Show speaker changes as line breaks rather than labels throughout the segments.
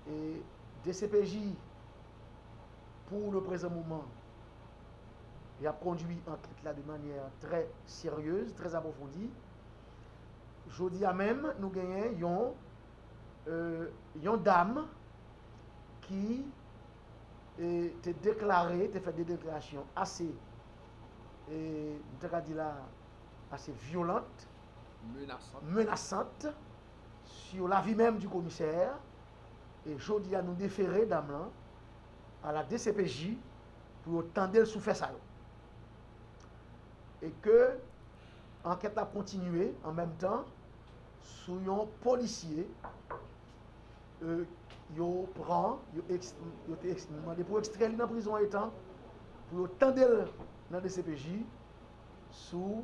E dcpj pou le prezan moman y ap kondwi ankèt la de manyè trè seryez, trè apwofondi. Jodi a menm nou genyen yon dam ki te deklare, te fè de deklarasyon ase, mwen ta ka di la ase vyolant, menasant. sur la vie même du commissaire e jodi a nou defere dam lan a la dcpj pou yo tande l sou fè sa yo. E ke ankèt la ap kontinye an menm tan sou yon polisye e yo pran yo eks yo te eks mande pou ekstrè li nan prizon etan pou yo tande l nan dcpj sou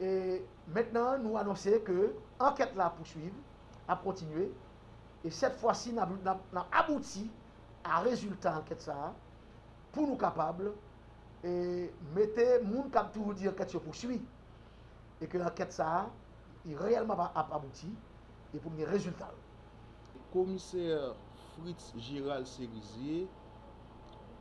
E mentnan nou anonse ke ankèt la ap pouswiv, ap kontinye, e sèt fwa si n ap abouti a rezilta ankèt sa a, pou nou kapab e mete moun k ap toujou di ankèt yo pouswi, e ke ankèt sa a li reyèlman ap abouti, e pou n gen rezilta l. Komisè
Fritz Gérald Cerizier.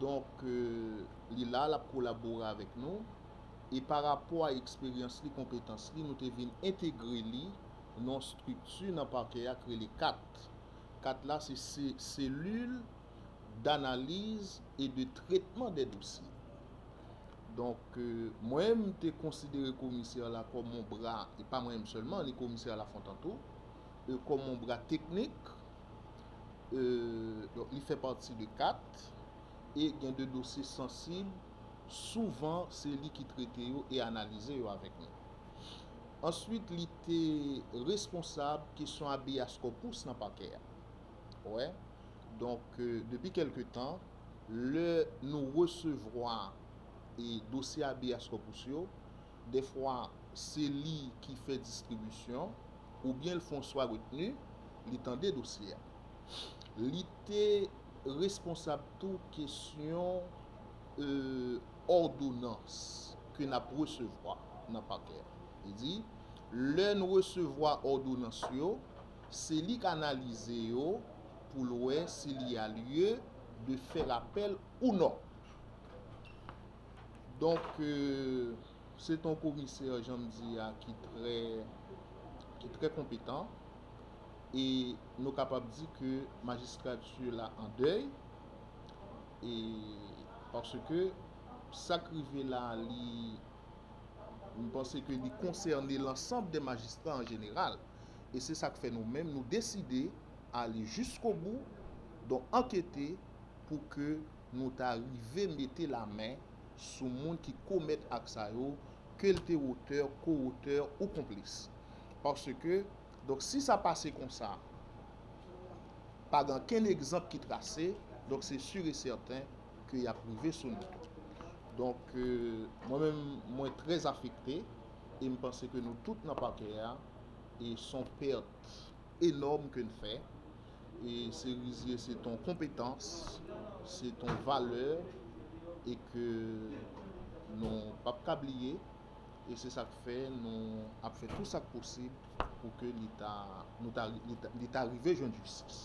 Donk, li la, l ap kolabore avèk nou. E pa rapò a eksperyans li, konpetans li, nou te vin entegre li nan yon estrikti nan Pakè a ki rele kat. Kat la se Selil Danaliz e de Tretman dè Dosye. Donk, mwen m te konsidere komisè la kòm yon bra, e pa mwen menm sèlman, ni komisè Lafontant tou, kòm yon bra teknik. Donk li fè pati de 4 e gen de dosye sansib souvan se li ki trete yo e analize yo avèk nou. Answit li te responsab kesyon habeas corpus nan pakè a. Wè, donk depi kelke tan lè nou resevwa e dosye habeas corpus yo, Dèfwa se li ki fè distribisyon, oubyen l fon swa retni, li tande dosye a. Li te responsab tou kesyon òdonans ke n ap resevwa nan pakè a. Li di, lè n resevwa òdonans yo, se li k analize yo pou l wè si li a lye de fèr apèl ou non. Donk, se t on komisè, jan m di a, ki trè, ki trè konpetan. E nou kapab di ke majistrati la an dèy. E, paske, sa k rive la, li, m panse ke li konsène lansanb de majistra an jeneral. E se sa k fè nou menm, nou deside ale jiskobou, donk ankete pou ke nou ta rive mete lamen sou moun ki komèt ak sa yo, ke l te otè, ko-otè ou konplis. Paske, donk si sa pase konsa, pa gen ankenn egzanp ki trase, donk se sur e sèten ke y ap rive sou nou tou. Donk, mwen menm, mwen trè afekte, e m panse ke nou tout nan pakè a, e s on pèt. enòm ke n fè e Cerizye se ton konpetans, se ton valè e ke nou pa p ka bliye e se sa k fè nou ap fè tou sa k posib pou ke li ta nou ta li ta rive jwenn jistis.